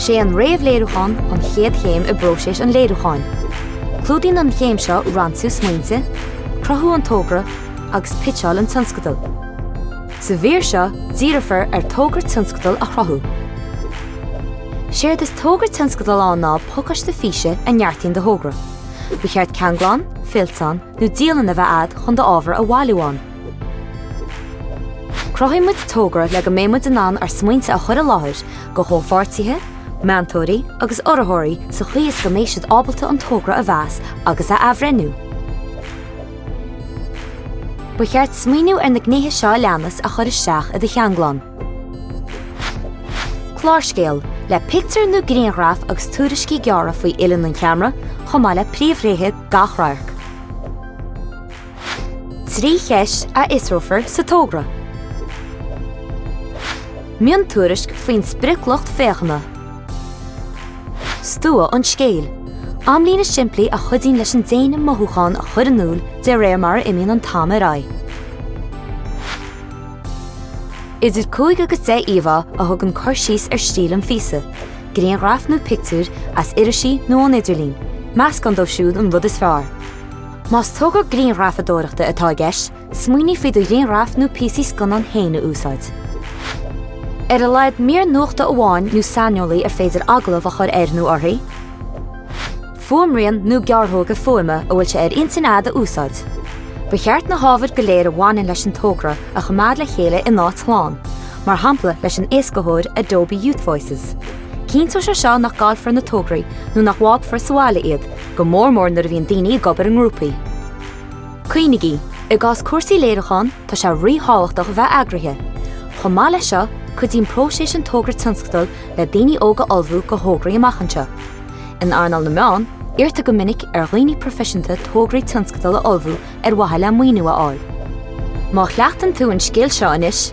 Sé an réamhléiriúchán an chéad chéim i bpróiseas an léiriúcháin. Clúdaíonn an chéim seo ransú smaointe, cruthú an togra agus pitseáil an tionscadail. Sa mhír seo, díreofar ar Togra Tionscadail a chruthú. Séard is Togra Tionscadail ann ná pacáiste físe a neartaíonn do thogra. Ba cheart ceanglán, fillteán nó dialann a bheith agat chun d'ábhar a bhailiú ann. Cruthaíonn muid togra le go mbeidh muid in ann ár smaointe a chur i láthair do chomhpháirtithe, meantóirí agus urraitheoirí sa chaoi is go mbeidh siad ábalta an togra a mheas agus a athbhreithniú. Ba cheart smaoineamh ar na gnéithe seo a leanas a chur isteach i do cheanglán. Clárscéal, le pictiúir nó grianghraif agus tuairiscí gearra faoi uillinn an cheamara, chomh maith le príomhthréithe gach radhairc. Trí cheist a fhiosrófar sa togra. Miontuairisc faoin sprioclucht féachana. Stua an scéil, amlíne simplí a chuidíonn leis an déine mothúchán a chur in iúl de réir mar a imíonn an t-am ar aghaidh. Idir cúig agus deich íomhá a thugann cur síos ar stíl an phíosa, grianghraif nó pictiúir as irisí nó ón idirlíon, meascán díobh siúd an rud is fearr. Más togra grianghrafadóireachta atá i gceist, Smaoinigh faoi do ghrianghraif nó píosaí scannán féin a úsáid. Ar a laghad mír nuachta amháin nó saineolaí ar féidir agallamh a chur air nó uirthi, fuaimrian nó gearrthóga fuaime a bhfuil sé ar intinn agat a úsáid. Ba cheart na hábhair go léir a bhaineann leis an togra a choimeád le chéile in áit shlán, mar shampla leis an éascaitheoir Adobe Youth Voices. Cinnteoidh sé seo nach gcaillfear na tograí nó nach bhfágfar sa bhaile iad, go mór mór nuair a bhíonn daoine ag obair i ngrúpaí. Cuimhnigí, i gcás cúrsaí léiriúcháin tá sé rí-thábhachtach a bheith eagraithe. Chomh maith leis seo, cuidíonn próiseas an togra tionscadail le daoine óga ullmhú do thograí amach anseo. In earnáil na meán, iarrtar go minic ar dhaoine proifisiúnta tograí tionscadail a ullmhú ar mhaithe le maoiniú a fháil. Má chleachtann tú an scil seo anois,